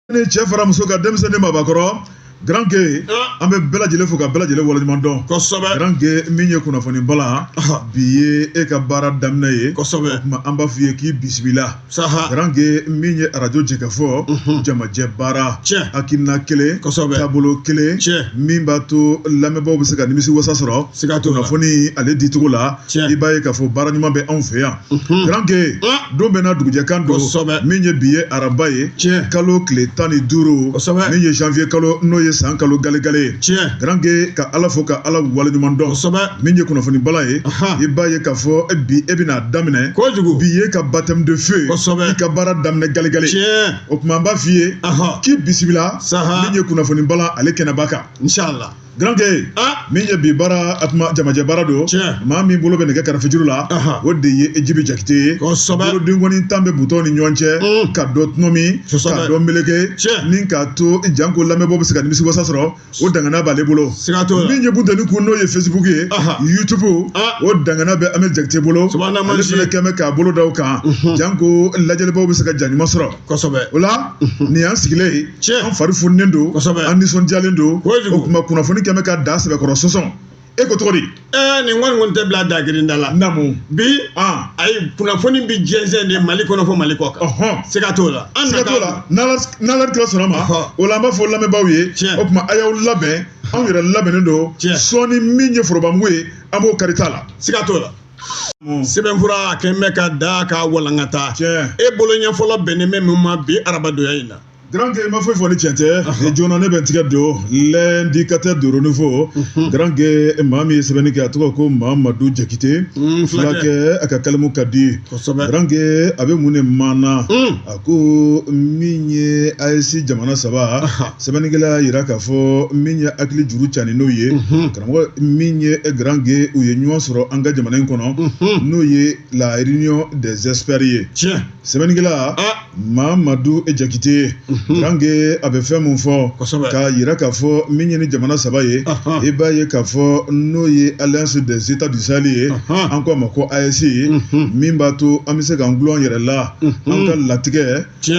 ne cɛ fara muso kan denmisɛnnin maabakɔrɔ Grand Gueye an bɛ bɛɛ lajɛlen fo ka bɛɛ lajɛlen waleɲuman dɔn kosɛbɛ Grand Gueye min ye kunnafoni bala bi ye e ka baara daminɛ ye kosɛbɛ o tuma an b'a f'i ye k'i bisimila saha Grand Gueye min ye arajo Jɛkafɔ jamajɛ baara tiɲɛ hakilina kelen kosɛbɛ taabolo kelen tiɲɛ min b'a to lamɛnbaaw bɛ se ka nimisi wasa sɔrɔ siga t'o la kunnafoni ale dicogo la tiɲɛ i b'a ye k'a fɔ baara ɲuman bɛ anw fɛ yan Grand Gueye don bɛ na dugujɛkan don min ye bi ye araba ye tiɲɛ kalo tile tan ni duuru min ye janvier kalo n'o ye san kalo galegale ye tiɲɛ Grand Gueye ka ala fo ka ala waleɲuman dɔn min ye kunnafoni bala ye i b'a ye k'a fɔ bi e bɛna a daminɛ kojugu bi ye ka baptême de feu i ka baara daminɛ galegale tiɲɛ o tuma an b'a f'i ye k'i bisimila saha min ye kunnafoni bala ale kɛnɛba kan Grand Gueye min ye bi baara jamajɛ baara don maa min bolo bɛ nɛgɛ karafejuru la o de ye e jibi jakite ye bolodenkɔni tan bɛ butɔn ni ɲɔgɔn cɛ ka dɔ tɔnɔmi ka dɔ meleke ni k'a to janko lamɛnbaaw bɛ se ka nimisi wasa sɔrɔ o dangana b'ale bolo min ye bunteni kun n'o ye Facebook ye YouTube o dangana bɛ Amɛ jakite bolo kɛmɛ k'a bolo da kan janko lajɛlibaw bɛ se ka ja ɲuman sɔrɔ kosɛbɛ o la nin y'an sigilen ye tiɲɛ an fari fununen don kosɛbɛ an nisɔndiyalen don kojugu o tuma kunnafoni kɛmɛ ka da sɛbɛkɔrɔ sɔsɔn e ko cogo di ɛɛ nin kɔni kɔni tɛ bila dagirinda la namu bi ayi kunnafoni bi jɛnsɛn de mali kɔnɔ fo mali kɔ kan siga t'o la an siga t'o la n'ala kira sɔnna ma o la an b'a fɔ lamɛnbaaw ye o tuma a y'aw labɛn anw yɛrɛ labɛnnen don sɔɔni min ye forobamugu ye an b'o kari ta la siga t'o la Mm. sɛbɛnfura a kɛ bɛ ka da k'a walankata e bolo ɲɛfɔlɔ bɛnnen bɛ mun ma bi arabadonya in na Grand Gueye ma foyi fɔ ni cɛn tɛ joona ne bɛ n tigɛ don l'indicateur du renouveau mhm. Grand Gueye e maa min ye sɛbɛnni kɛ a tɔgɔ ko Mamadu Jakite mm, fulakɛ a ka kalimu ka di Grand Gueye a bɛ mun de maana mm. ko min ye AES jamana saba sɛbɛnnikɛla y'a yira k'a fɔ min ye hakili juru cani n'o ye mhm. karamɔgɔ min ye Grand Gueye u ye ɲɔgɔn sɔrɔ an ka jamana in kɔnɔ mhm. n'o ye la réunion des experts ye tiɲɛ sɛbɛnnikɛla ah. mamadu jakite mhm. Grand Gueye a bɛ fɛn mun fɔ k'a yira k'a fɔ min ye nin jamana saba ye i b'a ye k'a fɔ n'o ye alliance des états du sahel ye an ko a ma ko AES min b'a to an bɛ se k'an gulon an yɛrɛ la an ka latigɛ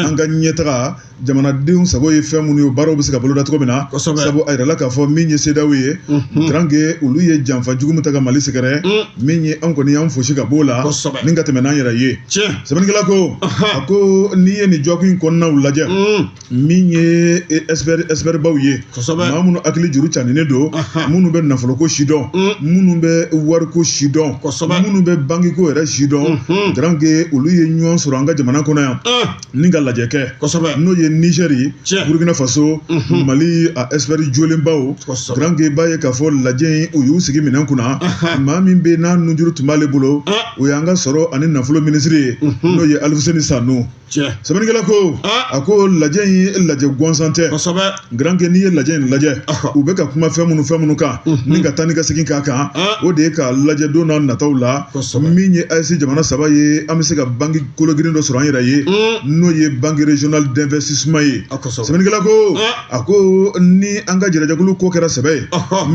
an ka ɲɛtaga jamanadenw sago ye fɛn minnu ye o baaraw bɛ se ka boloda cogo min na sabu a yirala k'a fɔ min ye CEDEAO ye Grand Gueye olu ye janfa jugu min ta ka mali sɛgɛrɛ min ye an kɔni y'an fosi ka b'o la ni ka tɛmɛ n'an yɛrɛ ye sɛbɛnnikɛla ko a ko n'i ye nin jɔkun in kɔnɔnaw lajɛ min ye ɛsipɛribaw ye maa minnu hakili juru caninlen don minnu bɛ nafoloko sidɔn minnu bɛ wariko sidɔn minnu bɛ bankiko yɛrɛ sidɔn garanke olu ye ɲɔgɔn sɔrɔ an ka jamana kɔnɔ yan ni ka lajɛ kɛ n'o ye nizɛri ye burukina faso mali a ɛsipɛri jolenbaw garanke b'a ye k'a fɔ lajɛ in u y'u sigi minɛn kunna maa min bɛ n'a nunjuru tun b'ale bolo o y'an ka sɔrɔ ani nafolo minisiri ye n'o ye alifuseni sanu tiɲɛ sɛbɛnnikɛla ko ah. a ko lajɛ in ye lajɛ gansan tɛ kosɛbɛ garanke n'i ye lajɛ in lajɛ u bɛ ka kuma fɛn minnu fɛn minnu kan mhm. ni ka taa ni ka segin k'a kan ah. o de ye ka lajɛ don n'a nataw la min ye AES jamana saba ye an bɛ se ka banki kologirin dɔ sɔrɔ an yɛrɛ ye mm. n'o ye banque régionale d'investissement ye ah, sɛbɛnnikɛla ko a ko ni an ka jɛrɛjɛkulu ko kɛra sɛbɛ ye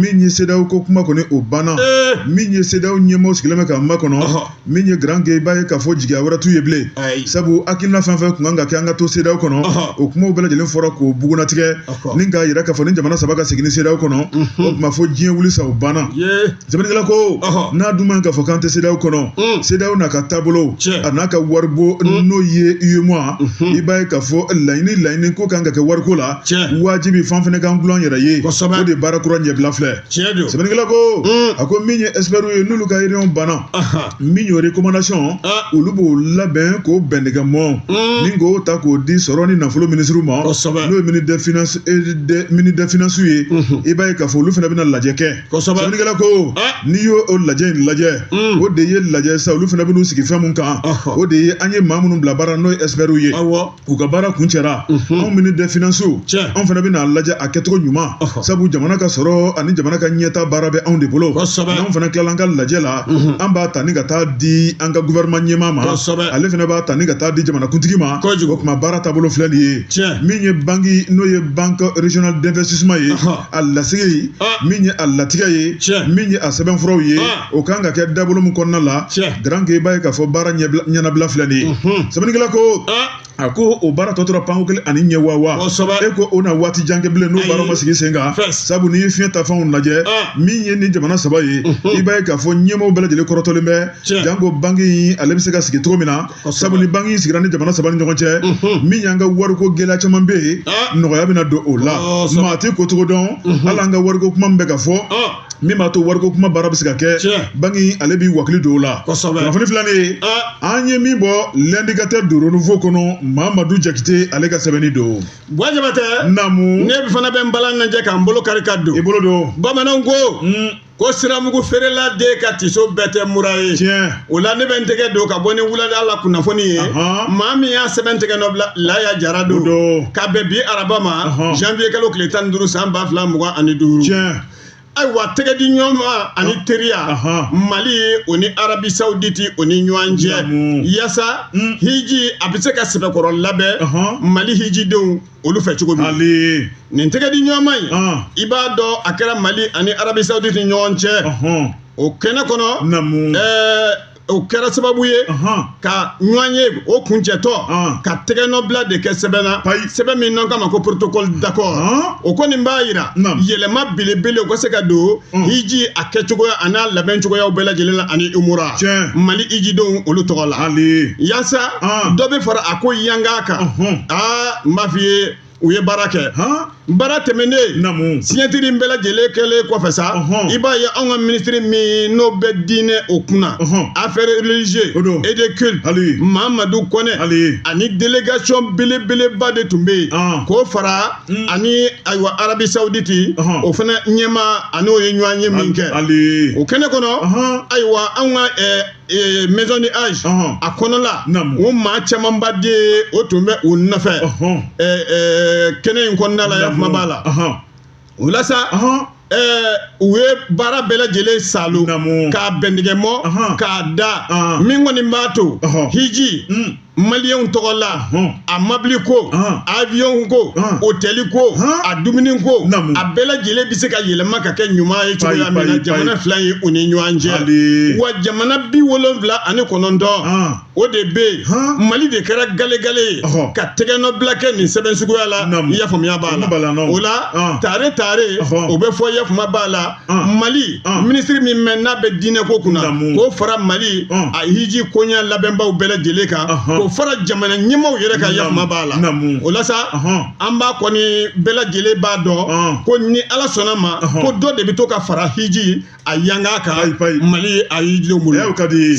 min ye CEDEAO ko kuma kɔni o banna eh. min ye CEDEAO ɲɛmɔgɔ sigilen bɛ k'a makɔnɔ min ye garanke i b'a ye k'a fɔ jigiya wɛrɛ t'u ye bilen sabu hakilina fɛn fɛn kun kan ka kɛ an ka to CEDEAO kɔnɔ o kumaw bɛɛ lajɛlen fɔra k'o bugunatigɛ ni k'a yira k'a fɔ ni jamana saba ka segin ni CEDEAO kɔnɔ o tuma fɔ diɲɛ wuli sa o banna sɛbɛnnikɛla ko n'a dun b'a ye k'a fɔ k'an tɛ CEDEAO kɔnɔ mm. CEDEAO n'a ka taabolo a n'a ka waribon mm. n'o ye UEMOA mm-hmm. i b'a ye k'a fɔ laɲini laɲini ko kan ka kɛ wariko la wajibi fan fana k'an gulon yɛrɛ ye o de baara kura ɲɛbila filɛ sɛbɛnnikɛla ko mm. a ko min ye experts ye n'olu ka réunion banna min y'o recommandation olu b'o labɛn k'o bɛn ɲɔgɔn ma ni k'o ta k'o di sɔrɔ ni nafolo minisiriw ma n'o ye ministre des finances ye i b'a ye k'a fɔ olu fɛnɛ bɛna lajɛ kɛ sɛbɛnnikɛla ko n'i y'o o lajɛ in lajɛ o de ye lajɛ sa olu fɛnɛ bɛn'u sigi fɛn mun kan o de ye an ye maa minnu bila baara n'o ye ɛsipɛriw ye u ka baara kuncɛra anw ministre des finances anw fana bɛn'a lajɛ a kɛcogo ɲuman sabu jamana ka sɔrɔ ani jamana ka ɲɛtaa baara bɛ anw de bolo n'anw fana tilala an ka lajɛ la an b'a ta ni ka taa di an ka gouvernement ɲɛmaa ma ale fana b'a ta ni ka taa di jamanakuntigi ma o kuma baara taabolo filɛ nin ye min ye banki n'o ye banque régionale d'investissement ye. a lasigi ye min ye a latigɛ ye min ye a sɛbɛnfuraw ye o kan ka kɛ dabolo min kɔnɔna la garanke i b'a ye k'a fɔ baara ɲɛnabila filɛ nin ye sɛbɛnnikɛla ko a ko o baara tɔ tora panko kelen ani ɲɛ wa wa e ko o na waati jan kɛ bilen n'o baara ma sigi sen kan sabu n'i ye fiɲɛ taafanw lajɛ min ye ni jamana saba ye i b'a ye k'a fɔ ɲɛmaaw bɛɛ lajɛlen kɔrɔtɔlen bɛ janko banki in ale bɛ se ka sigi cogo min na sabu ni banki in sigira ni jamana saba ni ɲɔgɔn cɛ mhm. min y'an ka wariko gɛlɛya caman bɛ yen ah. nɔgɔya bɛna don o la oh, maa tɛ ko cogo dɔn mhm. hali an ka wariko kuma min bɛ ka fɔ ah. min b'a to wariko kuma baara bɛ se ka kɛ banki in ale b'i wakili don o la kunnafoni filanan ah. an ye min bɔ l'indicateur du renouveau kɔnɔ mamadu jakite ale ka sɛbɛnni don buwa jabatɛ naamu ne fana bɛ n balan ŋanjɛ k'an bolo kari ka don i bolo don bamananw ko hmm. ko siramugu feerela de ka tiso bɛɛ tɛ mura ye o la ne bɛ n tɛgɛ don ka bɔ ni wulada la kunnafoni ye maa min y'a sɛbɛn tɛgɛ nɔ bila laya jara don ka bɛn bi araba ma janvier kalo tile tan ni duuru san ba fila mugan ani duuru ayiwa tɛgɛ di ɲɔgɔn ma ani teriya mali o ni arabi sawuditi o ni ɲɔgɔn cɛ yasa hiji a bɛ se ka sɛbɛkɔrɔ labɛn mali hijidenw olu fɛ cogo min Hali nin tɛgɛ di ɲɔgɔn ma in Ɔn. i b'a dɔn a kɛra mali ani arabi saudite ni ɲɔgɔn cɛ ɔhɔn o kɛnɛ kɔnɔ namu ɛɛ o kɛra sababu ye ɔhɔn ka ɲɔgɔn ye o kuncɛtɔ Ɔn. ka tɛgɛnɔbila de kɛ sɛbɛn na Ayi. sɛbɛn min n'an k'a ma ko protocole d'accord Ɔn. o kɔni b'a jira Naam. yɛlɛma belebele o ka se ka don hiji a kɛcogoya a n'a labɛn cogoyaw bɛɛ lajɛlen la ani umura Tiɲɛ. mali hijidenw olu tɔgɔ la hali yasa Ah. dɔ bɛ fara a ko yanga kan Ɔhɔn. aa n b'a f'i ye u ye baara kɛ han baara tɛmɛnen namu siɲatiri in bɛɛ lajɛlen kɛlen kɔfɛ sa Ɔhɔn. i b'a ye anw ka minisiri min n'o bɛ diinɛ o kunna Ɔhɔn. affaire religieux O don. et de culte Hali. mamadu kɔnɛ Hali. ani délégation belebeleba de tun bɛ yen Ɔn. k'o fara Mm. ani ayiwa arabi sawuditi uh -huh. o fana ɲɛmaa ani o ye ɲɔgɔn ye min kɛ o kɛnɛ kɔnɔ uh -huh. ayiwa anw ka eh, eh, maison du hadj uh -huh. a kɔnɔla o maa camanba de o tun bɛ o nɔfɛ uh -huh. eh, eh, kɛnɛ in kɔnɔna la ya kuma b'a la uh -huh. o la sa uh -huh. ɛɛ u ye baara bɛɛ lajɛlen saalo k'a bɛndigɛmɔ k'a da min kɔni b'a to hiji hmm. maliyɛnw tɔgɔ la a mabili ko aviyɔnw ko otɛli ko a dumuni ko a bɛɛ lajɛlen bɛ se ka yɛlɛma ka kɛ ɲuman ye cogoya min na jamana fila ye u ni ɲɔgɔn cɛ wa jamana bi wolonwula ani kɔnɔntɔn o de bɛ yen mali de kɛra galegale ye ka tɛgɛnɔbila kɛ nin sɛbɛn suguya la yafamuya b'a la o la tare tare o bɛ fɔ yafama b'a la mali minisiri min mɛn n'a bɛ diinɛ ko kunna k'o fara mali a hiji koɲɛ labɛnbaw bɛɛ lajɛlen kan k'o fara jamana ɲɛmaaw yɛrɛ kan yafama b'a la o la sa an b'a kɔni bɛɛ lajɛlen b'a dɔn ko ni ala sɔnna ma ko dɔ de bɛ to ka fara hiji a yanga kan mali a hijidenw bolo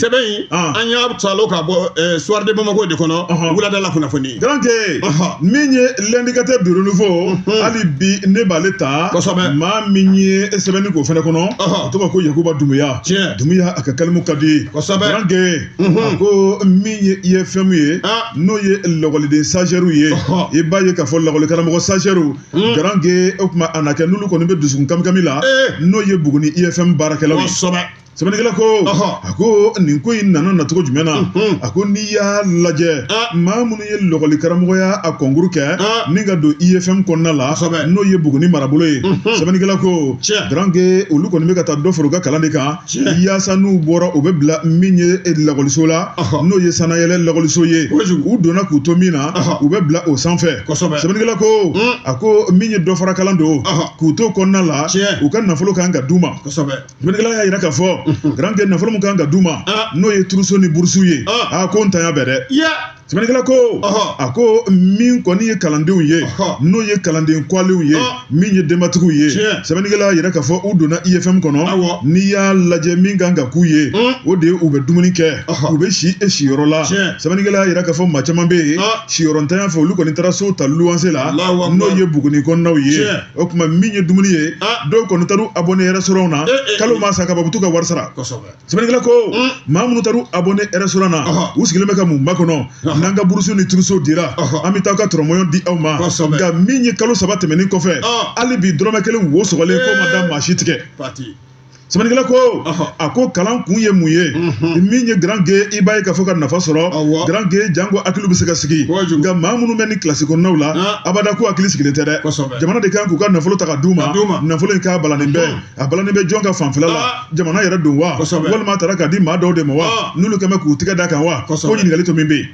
sɛbɛn in an y'a saalo ka bɔ soir de bamako de kɔnɔ wulada la kunnafoni donc min ye l'indicateur du renouveau hali bi ne b'ale ta kosɛbɛ maa min ye sɛbɛnni k'o fɛnɛ kɔnɔ a tɔgɔ ko yakuba dumuya tiɲɛ dumuya a ka kalimu ka di kosɛbɛ donc a ko min ye IFM ye n'o ye lakɔliden stagiairew ye i b'a ye k'a fɔ lakɔlikaramɔgɔ stagiairew Garankɛ o tuma a na kɛ n'olu kɔni bɛ dusukun kamikami la n'o ye Buguni IFM baarakɛlaw ye, kosɛbɛ, sɛbɛnnikɛla ko, ɔhɔ, a ko nin ko in nana nacogo jumɛn na, unhun, a ko n'i y'a lajɛ maa minnu ye lɔgɔli karamɔgɔya a kɔnkuru kɛ ni ka don IFM kɔnɔna la kosɛbɛ, n'o ye Buguni marabolo ye, unhun, sɛbɛnnikɛla ko, tiɲɛ, Garankɛ olu kɔni bɛ ka taa dɔ fara u ka kalan de kan yaasa n'u bɔra u bɛ bila min ye e lakɔliso la n'o ye sanayɛlɛ lakɔliso ye u donna k'u to min na u bɛ bila o sanfɛ sɛbɛnnikɛla ko hmm. a ko min ye dɔfarakalan don k'u to kɔnɔna la u ka nafolo kan ka d'u ma sɛbɛnnikɛla y'a jira k'a fɔ garankɛ nafolo min kan ka d'u ma ah. n'o ye turuso ni burusu ye ah. a ko ntanya bɛ dɛ sɛbɛnnikɛla ko a ko min kɔni ye kalandenw ye n'o ye kalanden kɔgɔlenw ye min ye denbatigiw ye sɛbɛnnikɛla y'a jira k'a fɔ u donna ifm e kɔnɔ n'i y'a lajɛ min kan ka k'u ye o de ye u bɛ dumuni kɛ u bɛ si e siyɔrɔ la sɛbɛnnikɛla y'a jira k'a fɔ maa caman bɛ yen siyɔrɔntanya fɛ olu kɔni taara so ta luwanse la n'o ye buguni kɔnɔnaw ye o tuma min ye dumuni ye dɔw kɔni taara u abonné restaurant na eh, eh, kalo eh. ma sa ka ban u bɛ to ka wari sara sɛbɛnnikɛla ko maa minnu taar'u abonné restaurant na u sigilen bɛ ka mun makɔnɔ n'an ka burusu ni turuso dira an bɛ taa ka tɔrɔmɔɲɔn di aw ma nka min ye kalo saba tɛmɛnen kɔfɛ hali bi dɔrɔmɛ kelen wo sɔgɔlen k'o ma da maa si tigɛ sɛbɛnnikɛla ko a ko kalan kun ye mun ye min ye garankɛ i b'a ye k'a fɔ ka nafa sɔrɔ garankɛ janko hakili bɛ se ka sigi nka maa minnu bɛ ni kilasi kɔnɔnaw la abada ko hakili sigilen tɛ dɛ jamana de kan k'u ka nafolo ta ka d'u ma nafolo in k'a balannen bɛ a balannen bɛ jɔn ka fanfɛla la ah. jamana yɛrɛ don wa walima a taara k'a di maa dɔw de ma wa ah. n'olu kɛlen bɛ k'u tigɛ d'a kan wa ko ɲininkali tomi bɛ yen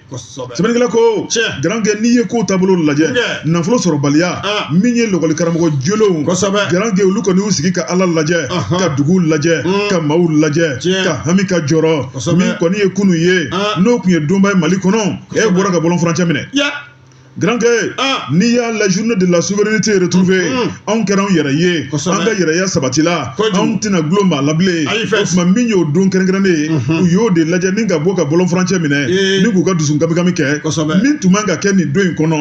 sɛbɛnnikɛla ko garankɛ n'i ye kow taabolo lajɛ nafolo sɔrɔbaliya ah. min ye lɔgɔli karamɔgɔ jolenw garankɛ olu kɔni y'u sigi ka ala lajɛ ka dugu lajɛ hmm. ka maaw lajɛ ka hami ka jɔrɔ min kɔni ye kunu ye n'o tun ye donba ye mali kɔnɔ e bɔra ka bɔlɔn furancɛ minɛ Garankɛ n'i y'a la journée de la souveraineté retrouvée anw kɛra anw yɛrɛ ye an ka yɛrɛya sabatila anw tɛna dulon maa la bilen tuma min y'o don kɛrɛnkɛrɛnnen ye u y'o de lajɛ ni ka bɔ ka bɔlɔn furancɛ minɛ ni k'u ka dusu kamikami kɛ min tun man ka kɛ nin don in kɔnɔ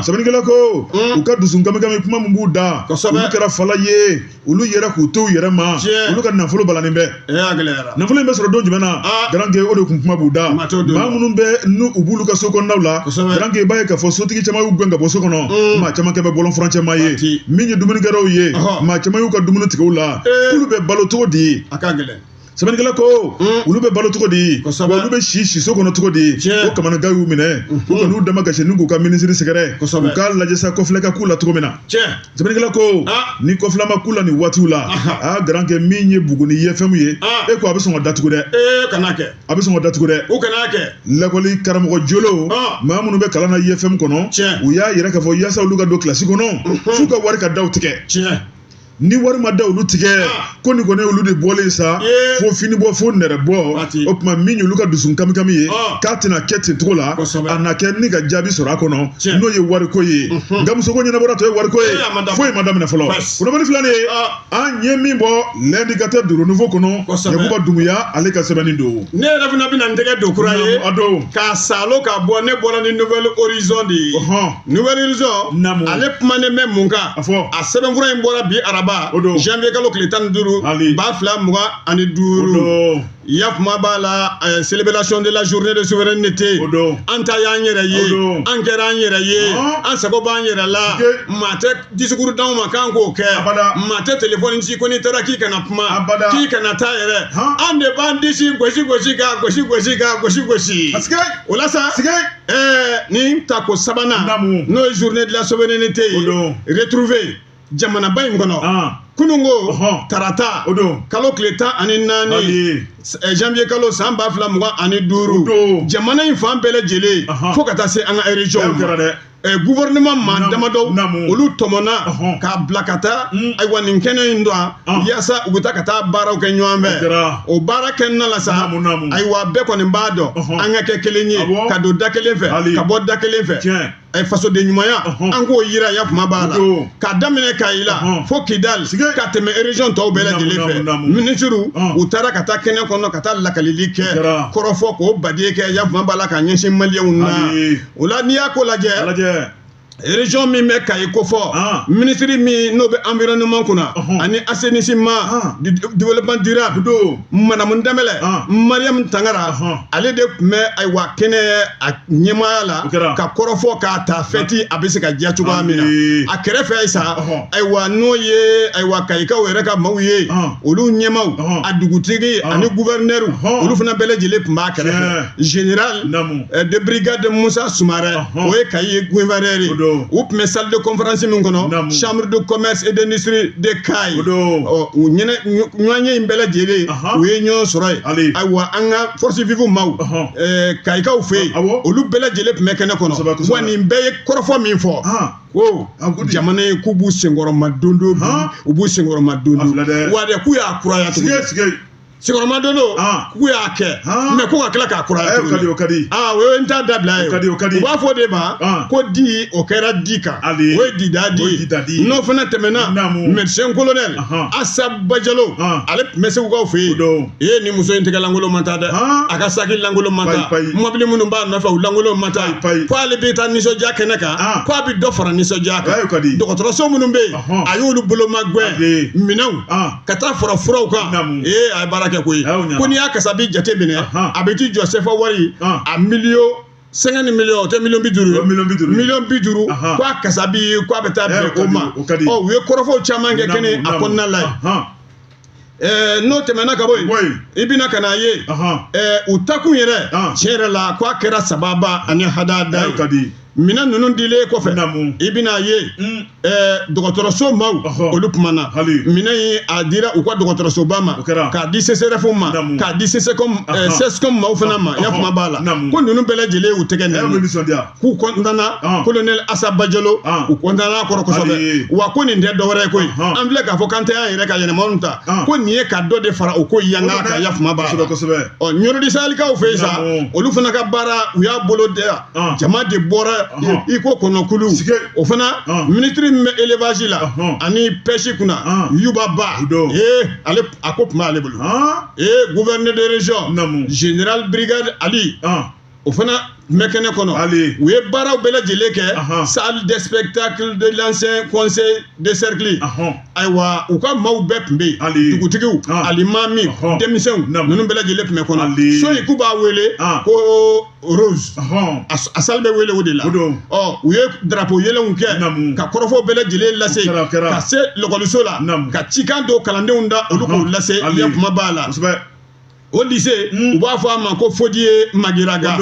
sɛbɛnnikɛla ko u ka dusu kamikami kuma min b'u da olu kɛra fala ye olu yera k'u to u yɛrɛ ma olu ka nafolo balannen bɛ nafolo in bɛ sɔrɔ don jumɛn na ah. garankɛ o de kun kuma b'u da maa minnu bɛ n'u b'olu ka so kɔnɔnaw la garankɛ i b'a ye k'a fɔ sotigi caman y'u gɛn ka bɔ so kɔnɔ mm. maa caman kɛlen bɛ bɔlɔn furancɛ maa ye min ye dumunikɛlaw ye maa caman y'u ka dumuni tigɛ u la eh. k'olu bɛ balo cogo di sɛbɛnnikɛla ko hmm. olu bɛ balo cogo di olu bɛ si siso kɔnɔ cogo di o kamanagan y'u minɛ u hmm. ka n'u dama gasi n'u k'u ka minisiri sɛgɛrɛ u k'a lajɛ sa kɔfilɛ ka k'u la cogo min na sɛbɛnnikɛla ko ah. ni kɔfilɛ ma k'u la nin waatiw la a garan kɛ min ye buguni IFM ye ah. e ko a bɛ sɔn ka datugu dɛ a bɛ sɔn ka datugu dɛ lakɔli karamɔgɔ jolo ah. maa minnu bɛ kalan na IFM kɔnɔ u y'a yira k'a fɔ yasa olu ka don kilasi kɔnɔ f'u ka wari ka da u tigɛ ni wari ma da olu tigɛ ah. ko nin kɔni olu de bɔlen sa fo fini bɔ fo nɛrɛ bɔ o tuma min y'olu ka dusu kami kami ye ah. k'a tɛna kɛ ten cogo la a na kɛ ni ka jaabi sɔrɔ a kɔnɔ n'o ye wariko ye mhm. nka musoko ɲɛnabɔra tɔ ye wariko ye foyi ma daminɛ fɔlɔ kunnafoni filanan ye ah. an ye min bɔ l'indicateur du renouveau kɔnɔ yakuba dumuya ale ka sɛbɛnni don ne yɛrɛ fana bɛna n tɛgɛ don kura ye k'a salo ka bɔ ne bɔra ni nouvel horizon de ye nouvel horizon Namu. ale kumanen bɛ mun kan A fɔ. a sɛbɛnfura in bɔra bi araba O don. janvier kalo tile tan ni duuru Ali. ba fila mugan ani duuru Odo. yakuma b'a la eh, célébration de la journée de souveraineté O don. an ta y'an yɛrɛ ye O don. an kɛra an yɛrɛ ye Ɔn. an sago b'an yɛrɛ la Ike. maa tɛ disikuru d'anw ma k'an k'o kɛ maa tɛ telefɔni ci ko n'i taara k'i kana kuma k'i kana taa yɛrɛ an de b'an disi gosi gosi k'a gosi gosi k'a gosi gosi o la sa ɛɛ nin tako sabanan n'o ye journée de la souveraineté ye retrouvée jamanaba in kɔnɔ kununko tarata kalo tile tan ani naani janvier kalo san ba fila mugan ani duuru jamana in fan bɛɛ lajɛlen fo ka taa se an ka erezyɔnw ma gouvernement maa damadɔ olu tɔmɔna k'a bila ka taa hmm. ayiwa nin kɛnɛ in dɔn ah. yaasa u bɛ taa ka taa baaraw kɛ ɲɔgɔn fɛ o baara kɛnɛna la sa ayiwa bɛɛ kɔni b'a dɔn an ka kɛ kelen ye ka don da kelen fɛ ka bɔ da kelen fɛ fasoden ɲumanya an k'o yira ya kuma b'a la k'a daminɛ kayi la fo kidali ka tɛmɛ erezɔn tɔw bɛɛ lajɛlen fɛ minisiriw u taara ka taa kɛnɛ kɔnɔ ka taa lakalili kɛ kɔrɔfɔ k'o badie kɛ ya kuma b'a la ka ɲɛsin maliyɛnw na o la n'i y'a ko lajɛ région min bɛ kayi kofɔ Ah. minisiri min n'o bɛ environnement kunna Ɔhɔn. ani assainissement Ah. du- du- développement durable do madamu danbɛlɛ Ah. mariam tangara Ɔhɔn. ale de tun bɛ ayiwa kɛnɛ a ɲɛmaaya la O kɛra. ka kɔrɔfɔ k'a ta fɛti a bɛ se ka diya cogoya min Amii. na a kɛrɛfɛ ye sa Ɔhɔn. ayiwa n'o ye ayiwa kayikaw yɛrɛ ka maaw ye Ɔhɔn. olu ɲɛmaw Ɔhɔn. a dugutigi Ɔhɔn. ani gouverneur Ɔhɔn. olu fana bɛɛ lajɛlen tun b'a kɛrɛfɛ Tiɲɛ. Général Namu euh, de brigade Moussa Soumaré uh -huh. o ye Kayi gouverneur ye u tun bɛ salle de conférence min kɔnɔ Namu. chambre de commerce et d'industrie de Kayi ɔ u ɲɛnɛ ɲɔgɔnye in bɛɛ lajɛlen uh -huh. u ye ɲɔgɔn sɔrɔ yen ayiwa an ka forces vives maaw uh -huh. euh, Kayikaw fɛ yen uh -huh. olu bɛɛ lajɛlen tun bɛ kɛnɛ kɔnɔ wa nin bɛɛ ye kɔrɔfɔ min fɔ uh -huh. ko jamana ye k'u b'u senkɔrɔmadondon bi u b'u senkɔrɔmadondon wa dɛ k'u y'a kuraya tuguni sigiyɔrɔma don don ah. k'u y'a kɛ ah. mɛ ko ka tila k'a kuraya tuguni o ka di ah, o ye n t'a dabila ye o ka di o ka di u b'a fɔ o de ma ko di o kɛra di kan o ye dida di n'o fana tɛmɛna mɛdisɛn kolonɛli asa bajalo ale tun bɛ segukaw fɛ yen ee ni muso in tɛgɛ lankolon ma taa dɛ a ka saki lankolon ma taa mɔbili minnu b'a nɔfɛ u lankolon ma taa ko ale bɛ taa nisɔndiya kɛnɛ kan ko a bɛ dɔ fara nisɔndiya kan dɔgɔtɔrɔso minnu bɛ yen a y'olu bolo magɛn minɛnw ka taa fara furaw kan ee a ye baara kɛ koyi ko n'i y'a kasabi jate minɛ a bɛ t'i jɔ sefa wari a miliyɔn cinquante miliyɔn o tɛ miliyɔn bi duuru miliyɔn bi duuru ko a kasabi ko a bɛ taa bɛn o ma ɔ u ye kɔrɔfɔw caman kɛ kɛnɛ a kɔnɔna la yen Eh, n'o tɛmɛna ka bɔ yen i bɛna ka n'a ye eh, u taakun yɛrɛ tiɲɛ yɛrɛ la ko a kɛra sababa ani hadada ye minɛn ninnu dilen kɔfɛ Naamu. i bɛna ye Mm. ɛɛ, dɔgɔtɔrɔso maaw Ɔhɔ. olu kumana Hali. minɛn in a dira u ka dɔgɔtɔrɔsoba ma O kɛra. k'a di CSREF ma Naamu. k'a di CSCOM ɛɛ, Ahan. CSCOM maaw fana ma n y'a Ɔhɔ. faamu b'a la Naamu. ko ninnu bɛɛ lajɛlen y'u tɛgɛ Ɛ, nɛnɛ. bɛ nisɔndiya. k'u kɔntana Ɔn. kolonɛli asa bajalo Ɔn. u kɔntana kɔrɔ Hali. kosɛbɛ wa ko nin tɛ dɔwɛrɛ ye koyi Ɔhɔn. an filɛ k'a fɔ k'an tɛ an yɛrɛ ka yɛlɛmaw ta Ɔn. ko nin ye ka dɔ de fara o ko yanga kan i y'a faamu b'a Kosɛbɛ, la kosɛbɛ. ɔ ɲɔrɔ du sahelikaw fɛ yen sa Naamu. olu fana ka baara u y'a bolo da jama de bɔra i ko kɔnɔkulu o fana minisiri min bɛ élevage la ani pêche kunna yuba ba ale a ko tun b'ale bolo ee gouverneur de région général brigade ali o fana tun bɛ kɛnɛ kɔnɔ u ye baaraw bɛɛ lajɛlen kɛ salle de spectacle de l'ancien conseil de cercle ayiwa u ka maaw bɛɛ tun bɛ yen dugutigiw alimami denmisɛnw ninnu bɛɛ lajɛlen tun bɛ kɔnɔ so in k'u b'a wele ko rose a salle bɛ wele o de la u ye darapo yɛlɛnw kɛ ka kɔrɔfɔw bɛɛ lajɛlen lase ka se lakɔliso la ka cikan don kalandenw da olu k'o lase kuma b'a la o lycée u b'a fɔ a ma ko fodiye magiraga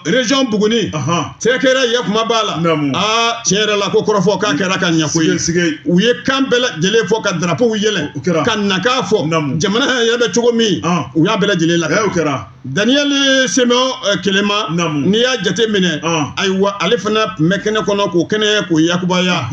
région buguni cɛ kɛra ye kuma b'a la aa tiɲɛ yɛrɛ la ko kɔrɔfɔ k'a kɛra ka ɲɛ koyi u ye kan bɛɛ lajɛlen fɔ ka darapow yɛlɛn ka nakan fɔ jamana yɛrɛ bɛ cogo min u y'a bɛɛ lajɛlen la kɛra Daniel Simeon Kelema n'i y'a jate minɛ ayiwa ale fana tun bɛ kɛnɛ kɔnɔ k'o kɛnɛ k'o yakubaya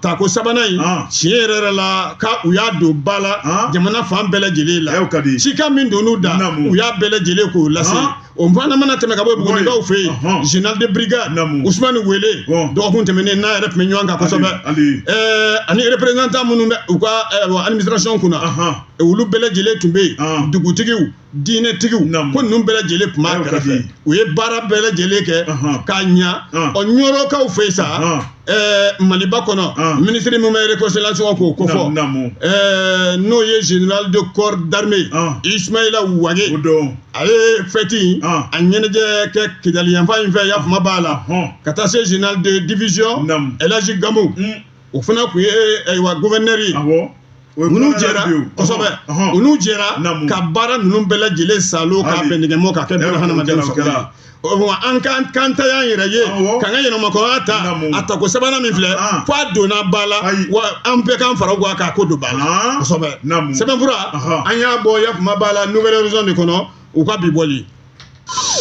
tako sabanan in tiɲɛ yɛrɛ yɛrɛ la k'u y'a don ba la jamana fan bɛɛ lajɛlen la cikan min don u da u y'a bɛɛ lajɛlen k'o lase o fana mana tɛmɛ ka bɔ bugunikaw fɛ yen général de brigade usumani wele dɔgɔkun tɛmɛnen n'a yɛrɛ tun bɛ ɲɔgɔn kan kosɛbɛ eh, ani représentant minnu bɛ u ka eh, administration kunna olu bɛɛ lajɛlen tun bɛ yen dugutigiw diinɛtigiw ko ninnu bɛɛ lajɛlen tun b'a kɛrɛfɛ u ye baara bɛɛ lajɛlen kɛ k'a ɲa ɔ ɲɔrɔkaw fɛ sa maliba kɔnɔ ministre min bɛ réconciliation k'o kofɔ n'o ye général de corps d'armée Ismaïla Wage a ye fɛti in a ɲɛnajɛ kɛ Kidali yanfan in fɛ yafama b'a la ka taa se général de division El Hadji Gamu o fana tun ye ayiwa gouverneur ninnu jɛra kosɛbɛ ninnu jɛra ka baara ninnu bɛɛ lajɛlen salo ka bɛn nɛgɛmɔ ka kɛ bɛɛ hadamaden sɔrɔ wa an kan k'an ta y'an yɛrɛ ye k'an ka yɛrɛmahɔrɔnya ta a tako sabanan min filɛ fo a donna ba la wa an bɛɛ k'an fara ɲɔgɔn kan k'a ko don ba la kosɛbɛ sɛbɛnfura an y'a bɔ yafama b'a la Nouvel Horizon de kɔnɔ u ka bi bɔli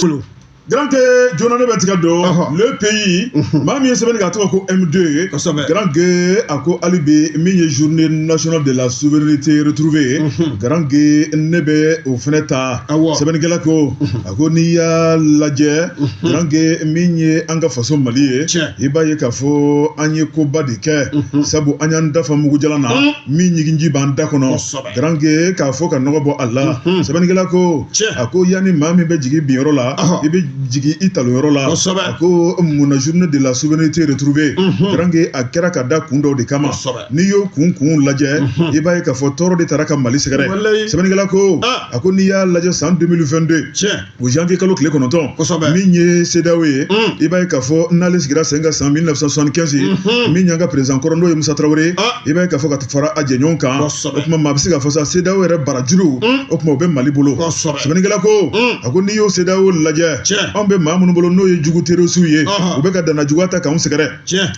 kɔnɔ garanke joona ne bɛ tigɛ don le pays maa min ye sɛbɛnni k'a tɔgɔ ko M2 ye kosɛbɛ garanke a ko hali bi min ye journée nationale de la souveraineté retrouvée ye garanke ne bɛ o fɛnɛ ta awɔ sɛbɛnnikɛla ko a ko n'i y'a lajɛ garanke min ye an ka faso Mali ye tiɲɛ i b'a ye k'a fɔ an ye koba de kɛ sabu an y'an da fa mugu jalan na min ɲiginji b'an da kɔnɔ kosɛbɛ garanke k'a fɔ ka nɔgɔ bɔ a la sɛbɛnnikɛla ko a ko yanni maa min bɛ jigi bin yɔrɔ la i bɛ jigi i talon yɔrɔ la a ko munna journée de la souveraineté retrouvée garanke a kɛra ka da kun dɔw de kama n'i y'o kun kun lajɛ i b'a ye k'a fɔ tɔɔrɔ de taara ka mali sɛgɛrɛ sɛbɛnnikɛla ko a ko n'i y'a lajɛ san 2022 o janvier kalo tile kɔnɔntɔn kosɛbɛ min ye CEDEAO ye mm. i b'a ye k'a fɔ n'ale sigira sen kan san 1975 ye mm-hmm. min y'an ka président kɔrɔ n'o ye Musa Traoré ah. i b'a ye k'a fɔ ka fara a jɛɲɔgɔn kan o tuma maa bɛ se k'a fɔ sa CEDEAO yɛrɛ barajuru mm. o tuma o bɛ Mali bolo sɛbɛnnikɛla ko mm. a ko n'i y'o CEDEAO lajɛ anw bɛ maa minnu bolo n'o ye jugu terɔrisiw ye uh-huh. u bɛ ka dannajuguya ta k'anw sɛgɛrɛ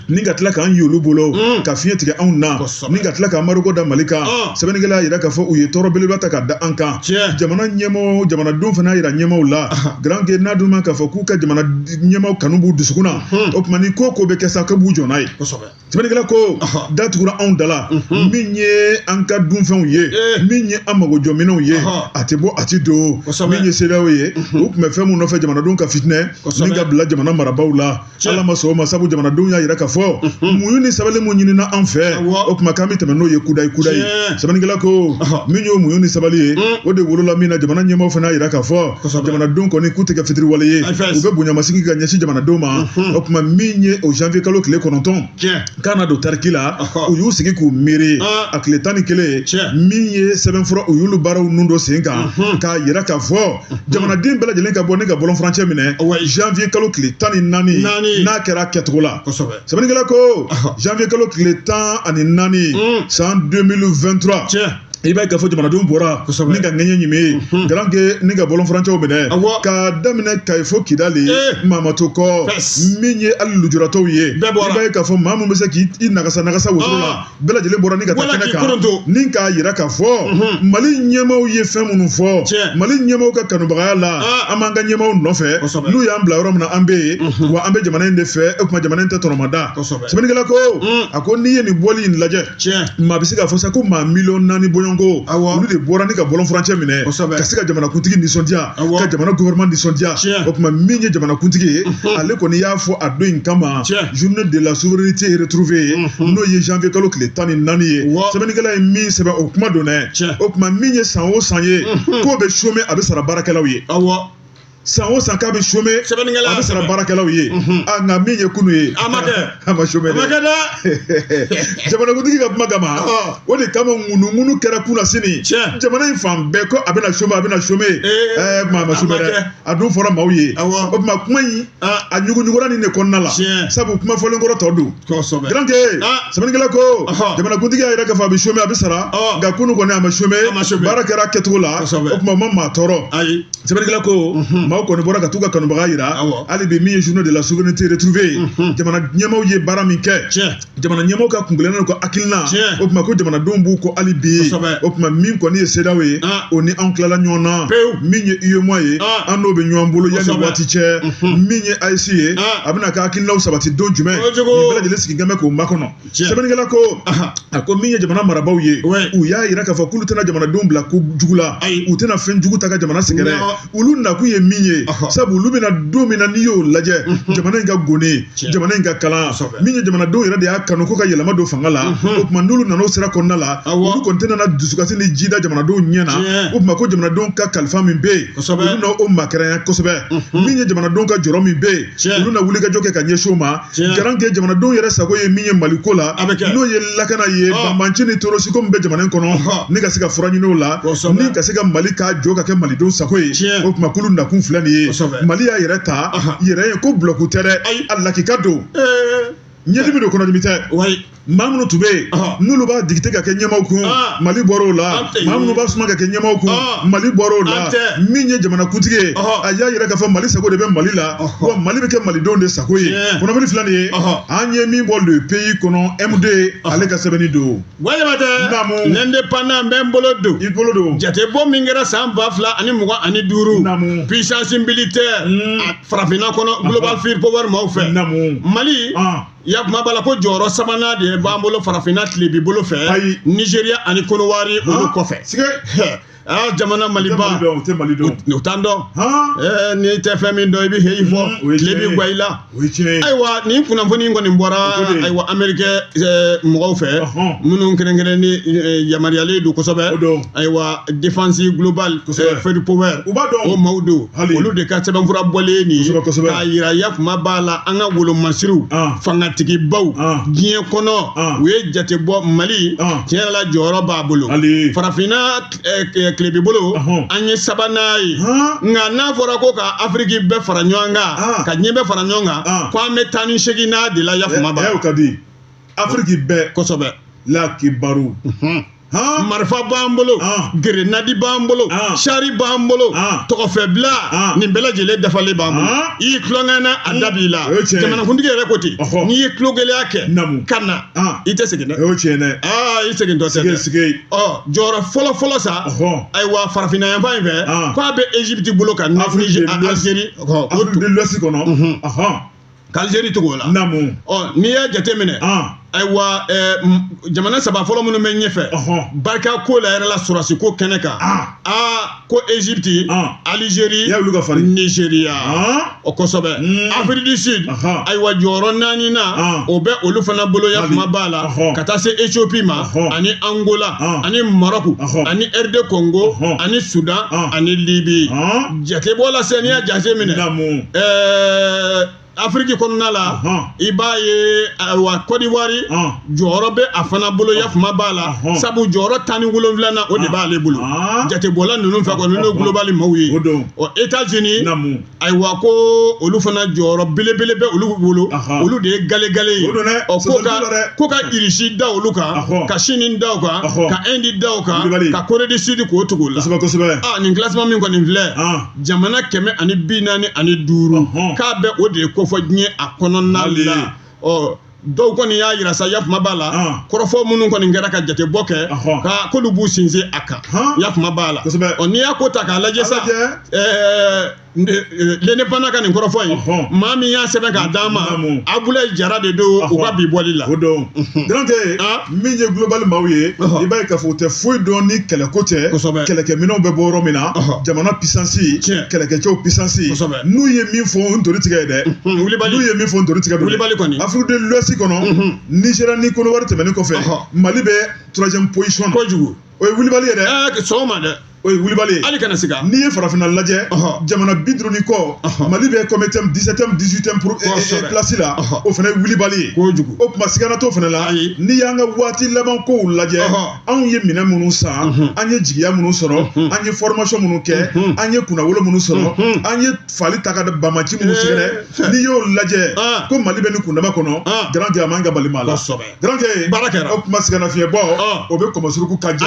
ni ka tila k'an y'olu bolo mm. ka fiɲɛ tigɛ anw na ni ka tila ka embargo da mali kan ah. sɛbɛnnikɛla y'a jira k'a fɔ u ye tɔɔrɔ belebeleba ta ka da an kan jamana ɲɛmɔgɔ jamanadenw fana y'a jira ɲɛmɔgɔw la ah. garanke n'a dun ma k'a fɔ k'u ka jamana ɲɛmɔgɔ kanu b'u dusukun na mm-hmm. o tuma ni ko o ko bɛ kɛ sa k'u b'u jɔ n'a ye sɛbɛnnikɛla ko ah. da tugura anw da la mm-hmm. min ye an ka dunfɛnw ye eh. min ye an mago jɔminɛnw ye a tɛ bɔ a tɛ don min ye CEDEAO ye mm-hmm. u tun bɛ fɛn min nɔfɛ jamanadenw ka fitinɛ ni ka bila jamana marabaaw la ala ma sɔn o ma sabu jamanadenw y'a yira k'a fɔ muɲu ni sabali min ɲinina an fɛ o tuma k'an bɛ tɛmɛ n'o ye kudayi kudayi sɛbɛnnikɛla ko min y'o muɲu ni sabali ye o de wolola min na jamana ɲɛmɔgɔ fana y'a yira k'a fɔ jamanadenw kɔni k'u tɛ kɛ fitiriwale ye u bɛ bonyamasegin ka ɲɛsin jamanadenw ma o tuma min ye o janvier kalo tile kɔnɔntɔn k'a na don tariki la u y'u sigi k'u miiri a tile tan ni kelen min ye sɛbɛnfura u y'olu baaraw ninnu don sen kan k'a yira k'a fɔ jamanaden bɛɛ lajɛlen ka bɔ ni ka bɔlɔn furancɛ minɛ janvier kalo tile tan ni naani n'a kɛra kɛcogo la sɛbɛnnikɛla ko janvier kalo tile tan ani naani mm. san 2023 i b'a ye k'a fɔ jamanadenw bɔra ni ka ŋɛɲɛ ɲimi ye mhm. garanke ni ka bɔlɔn furancɛw minɛ ka daminɛ kayi fo kidali eh. maa ma to kɔ min ye hali lujuratɔw ye i b'a ye k'a fɔ maa min bɛ se k'i nagasa nagasa wotoro la ah. bɛɛ lajɛlen bɔra ni ka taa kɛnɛ kan ni k'a yira k'a fɔ mhm. mali ɲɛmaaw ye fɛn minnu fɔ mali ɲɛmaaw ka kanubagaya la ah. an b'an ka ɲɛmaaw nɔfɛ n'u y'an bila yɔrɔ min na an bɛ yen mhm. wa an bɛ jamana in de fɛ o tuma jamana in tɛ tɔnɔmada sɛbɛnnikɛla ko mm. a ko n'i ye nin bɔli in lajɛ maa bɛ se k'a fɔ sa ko maa miliyɔn naani bɔɲɔgɔnko olu de bɔra ni ka bɔlɔn furancɛ minɛ ka se ka jamanakuntigi nisɔndiya ka jamana gouvernement nisɔndiya o tuma min ye jamanakuntigi ye ale kɔni y'a fɔ a don in kama journée de la souveraineté retrouvée n'o ye janvier kalo tile tan ni naani ye sɛbɛnnikɛla ye min sɛbɛn o kuma don dɛ o tuma min ye san o san ye k'o bɛ chômer a bɛ sara baarakɛlaw ye san o san k'a bɛ chômer a bɛ sara baarakɛlaw ye nka min ye kunu ye a ma chômer dɛ da jamanakuntigi ka kuma kama o de kama ŋunuŋunu kɛra kunasini jamana in fan bɛɛ ko a bɛna chômer a bɛna chômer ɛɛ maa ma chômer dɛ a dun fɔra maaw ye o tuma kuma in a ɲuguɲugura nin de kɔnɔna la sabu kuma fɔlen kɔrɔ tɔ don garanke sɛbɛnnikɛla ko jamanakuntigi y'a yira k'a fɔ a bɛ chômer a bɛ sara nka kunu kɔni a ma chômer baara kɛra a kɛcogo la o tuma o ma maa tɔɔrɔ sɛbɛnnikɛla ko maaw kɔni bɔra ka t'u ka kanubaga jira hali bi min ye journée de la souveraineté retrouvée ye jamana ɲɛmaaw ye baara min kɛ jamana ɲɛmaaw ka kuntilenna n'u ka hakilina o tuma ko jamanadenw b'u kɔ hali bi o tuma min kɔni ye CEDEAO ye ah. o ni anw tilala ɲɔgɔn na min ye UEMOA ye ah. an n'o bɛ ɲɔgɔn bolo yanni waati cɛ min ye AES ye ah. a bɛn'a ka hakilinaw sabati don jumɛn nin bɛɛ lajɛlen sigilen bɛ k'o makɔnɔ sɛbɛnnikɛla ko a ko min ye jamana marabaaw ye u y'a yira k'a fɔ k'olu tɛna jamanadenw bila ko jugu la u tɛna fɛn jugu ta ka jamana sɛgɛrɛ olu nakun ye min ye sabu olu bɛ na don min na n'i y'o lajɛ jamana in ka goni jamana in ka kalan min ye jamanadenw yɛrɛ de y'a kanu ko ka yɛlɛma don fanga la o tuma n'olu nana o sira kɔnɔna la olu kɔni tɛna na dusukasi ni ji da jamanadenw ɲɛ na o tuma ko jamanadenw ka kalifa min bɛ yen olu na o makɛrɛnya kosɛbɛ min ye jamanadenw ka jɔrɔ min bɛ yen olu na wulikajɔ kɛ ka ɲɛsin o ma garanke jamanadenw yɛrɛ sago ye min ye mali ko la n'o ye lakana ye banbaanci ni terroriste ko min bɛ jamana in kɔnɔ ni ka se ka fura ɲini o la ni ka se ka mali k'a jɔ ka kɛ malidenw sago ye o tuma k'olu nakun filɛ nin ye mali y'a yɛrɛ ta yɛrɛ ye ko bulonku tɛ dɛ ayi a lakika don ɲɛdimi don kɔnɔdimi tɛ maa minnu tun bɛ yen n'olu b'a digite ka kɛ ɲɛmaaw kun mali bɔra o la maa minnu b'a suma ka kɛ ɲɛmaaw kun mali bɔra o la min ye jamanakuntigi ye a y'a yira k'a fɔ mali sago de bɛ mali la wa mali bɛ kɛ malidenw de sago ye kɔnɔbili filɛ nin ye an ye min bɔ le pays kɔnɔ MD ale ka sɛbɛnni don walima tɛ naamu l'indépendant n bɛ n bolo don i bolo don jatebɔ min kɛra san ba fila ani mugan ani duuru naamu puissance militaire farafinna kɔnɔ global fire power maaw fɛ naamu mali I y'a kuma b'a la ko jɔyɔrɔ sabanan de b'an bolo farafinna tilebin bolo fɛ, ayi, Nizeriya ani Konowari olu kɔfɛ, sika, aa jamana Maliba u tɛ Mali dɔn, u t'an dɔn, han, ee n'i tɛ fɛn min dɔn i bɛ heyi fɔ, o ye tiɲɛ ye, tile bɛ gwan i la, o ye tiɲɛ ye, ayiwa nin kunnafoni in kɔni bɔra O ko de. ayiwa Ameriki eh, mɔgɔw fɛ Ɔhɔn. minnu kɛrɛnkɛrɛnnen eh, yamaruyalen don kosɛbɛ, O don. ayiwa défense globale Kosɛbɛ. eh, Fire Power U b'a dɔn. o maaw don Hali- olu de ka sɛbɛnfura bɔlen nin ye Kosɛbɛ, kosɛbɛ. k'a yira yafama b'a la an ka wolomasiriw Ah. fangatigibaw Ah. diɲɛ kɔnɔ Ah. u ye jate bɔ mali Ah. tiɲɛ yɛrɛ la jɔyɔrɔ b'a bolo Hali- farafinna eh, eh, tilebin bolo Ahɔn. an ye sabanan ye Han. nka n'a fɔra ko ka afiriki bɛɛ fara ɲɔgɔn kan Ah. ka diɲɛ bɛɛ fara ɲɔgɔn kan Ah. ko an bɛ tan ni seginnan de la yafama b'a ɛ o la ka di afiriki bɛɛ kosɛbɛ la kibaru Unhun. marifa b'an bolo gerenadi b'an bolo sari b'an bolo tɔgɔfɛbila nin bɛɛ lajɛlen dafalen b'an bolo i y'i tulonkɛna a da b'i la jamanakuntigi yɛrɛ ko ten n'i ye tulogɛlɛya kɛ ka na i tɛ segin dɛ o tiɲɛ dɛ i segintɔ tɛ dɛ ɔ jɔyɔrɔ fɔlɔ fɔlɔ sa ayiwa farafinna yanfan in fɛ k'a bɛ Egypte bolo ka Afrique Algérie Afrique de l'Ouest kɔnɔ k'alizeri tugu o la naamu ɔ n'i y'a jateminɛ an ayiwa ɛɛ m- jamana saba fɔlɔ minnu bɛ ɲɛfɛ Ɔhɔn. barika ko la yɛrɛ la sɔrɔdasi ko kɛnɛ kan Ah. aa ko ezipti Ah. alizeri Y'a wuli ka fari. nizeriya an o kosɛbɛ Mm. afiriki du sud Aha. ayiwa jɔyɔrɔ naaninan Ah. o bɛ olu fana bolo ya Mali. kuma b'a la Ɔhɔn. ka taa se ethiopie ma Ɔhɔn. ani angola Ah. ani maroc Ɔhɔn. ani rd congo Ɔhɔn. ani sudan Ah. ani libi an Jatebɔ la sisan n'i y'a jate minɛ, naamu, ɛɛ Afriki kɔnɔna la, ɔhɔn, i b'a ye wa Kɔdiwari, ɔn, jɔyɔrɔ bɛ a fana bolo yafama b'a la, ɔhɔn, sabu jɔyɔrɔ tan ni wolonwulanan o de b'ale bolo, ɔn, jatebɔla ninnu fɛ kɔni n'o ye globali maaw ye, o don, ɔ Etats Unis, naamu, ayiwa ko olu fana jɔyɔrɔ belebele bɛ olu bolo, ɔhɔn, olu de ye gale gale ye, o don dɛ, ɔ ko ka ko ka Irisi da olu kan, ɔhɔn, ka Sini da u kan, ɔhɔn, ka Inde da O kan Kulubali. ka Corée du Sud k'o tugu o la. kosɛbɛ kosɛbɛ Ah, nin classement min kɔni filɛ Ah. jamana kɛmɛ ani bi naani ani duuru Ɔhɔn. k'a bɛ o de kofɔ diɲɛ a kɔnɔna Hali. la ɔ dɔw kɔni y'a yira sa yafama b'a la Ah. kɔrɔfɔ minnu kɔni kɛra ka jatebɔ kɛ Ɔhɔn. ka k'olu b'u sinsin a kan Han. yafama b'a la Kosɛbɛ. ɔ n'i y'a ko ta k'a lajɛ sa A lajɛ. ɛɛ L'Indépendant ka nin kɔrɔfɔ in maa min y'a sɛbɛn k'a d'an ma abulayi jara de don u ka bi bɔli la o don donc min ye global maaw ye i b'a ye k'a fɔ u tɛ foyi dɔn ni kɛlɛko tɛ kɛlɛkɛminɛnw bɛ bɔ yɔrɔ min na jamana puissance kɛlɛkɛcɛw puissance n'u ye min fɔ o ntori tigɛ ye dɛ n'u ye min fɔ o ntori tigɛ don dɛ Afrique de l'Ouest kɔnɔ Nigéria ni Côte d'Ivoire tɛmɛnen kɔfɛ Mali bɛ troisième position na kojugu o ye wulibali ye dɛ sɔgɔma dɛ o ye wulibali ye hali kana siga n'i ye farafinna lajɛ jamana bi duuru ni kɔ mali bɛ comme dix-septième dix-huitième place la o fana ye wulibali ye kojugu o tuma sigana t'o fana la n'i y'an ka waati laban kow lajɛ anw ye minɛn minnu san an ye jigiya minnu sɔrɔ an ye formation minnu kɛ an ye kunnawolo minnu sɔrɔ an ye fali ta ka banbaanci minnu sɛgɛrɛ n'i y'o lajɛ ko mali bɛ nin kundama kɔnɔ garankɛ a man ka bali maa la Garankɛ baara kɛra o tuma sɛgɛnna fiɲɛ bɔ o bɛ kɔmɔsuruku ka jɛ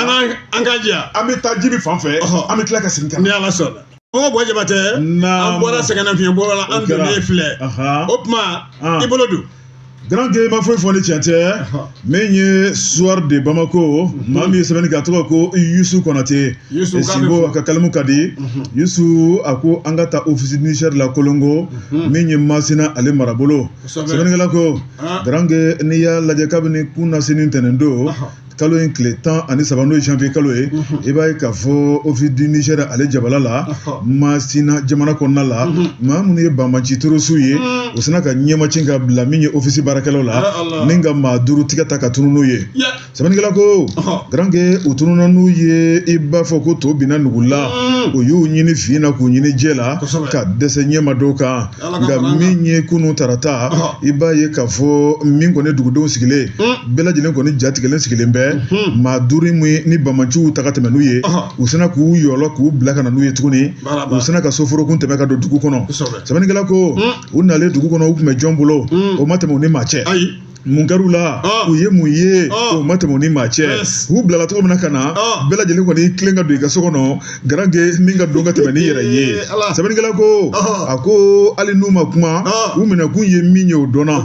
an ka jɛ an bɛ taa jibi fan fɛ an bɛ tila ka segin ka na ni ala sɔnna ko bɔ jabatɛ an bɔra sɛgɛnna fiɲɛ bɔ la an donnen filɛ o tuma i bolo don Garankɛ ma foyi fɔ ni cɛn tɛ min ye Soir de Bamako maa min ye sɛbɛnni kɛ a tɔgɔ ko yusu konate sinbo a ka kalimu ka di yusu a ko an ka taa Office du Niger la kolongo min ye masina ale marabolo sɛbɛnnikɛla ko Garankɛ n'i y'a lajɛ kabini kunasini ntɛnɛn don kalo in tile tan ani saba n'o ye janvier kalo ye i b'a ye k'a fɔ Office du Niger ale jabala la Masina jamana kɔnɔna la maa minnu ye banbaanci terrorisiw ye u sina ka ɲɛmaci ka bila min ye Office baarakɛlaw la ni ka maa duuru tigɛ ta ka tunun n'u ye. sɛbɛnnikɛla ko garankɛ u tununna n'u ye i b'a fɔ ko to binna nugu la o y'u ɲini fin na k'u ɲini jɛ la ka dɛsɛ ɲɛ ma da u kan nka min ye kunun tarata i b'a ye k'a fɔ min kɔni dugudenw sigilen bɛɛ lajɛlen kɔni jatigɛlen sigilen bɛ maa duuru min ni banbaanciw ta ka tɛmɛ n'u ye u sina k'u yɔlɔ k'u bila ka na n'u ye tuguni u sina ka soforokun tɛmɛ ka don dugu kɔnɔ sɛbɛnnikɛla ko u nalen dugu kɔnɔ u tun bɛ jɔn bolo o ma tɛmɛ u ni maa cɛ mun kɛr'u la ah. u ye mun ye ah. o ma tɛmɛ u ni maa cɛ u bilala cogo min na ka na ah. bɛɛ lajɛlen kɔni tilen ka don i ka so kɔnɔ garankɛ min ka don ka tɛmɛ ni yɛrɛ ye sɛbɛnnikɛla ko a ko hali n'u ma kuma u minɛkun ye min ye o dɔnna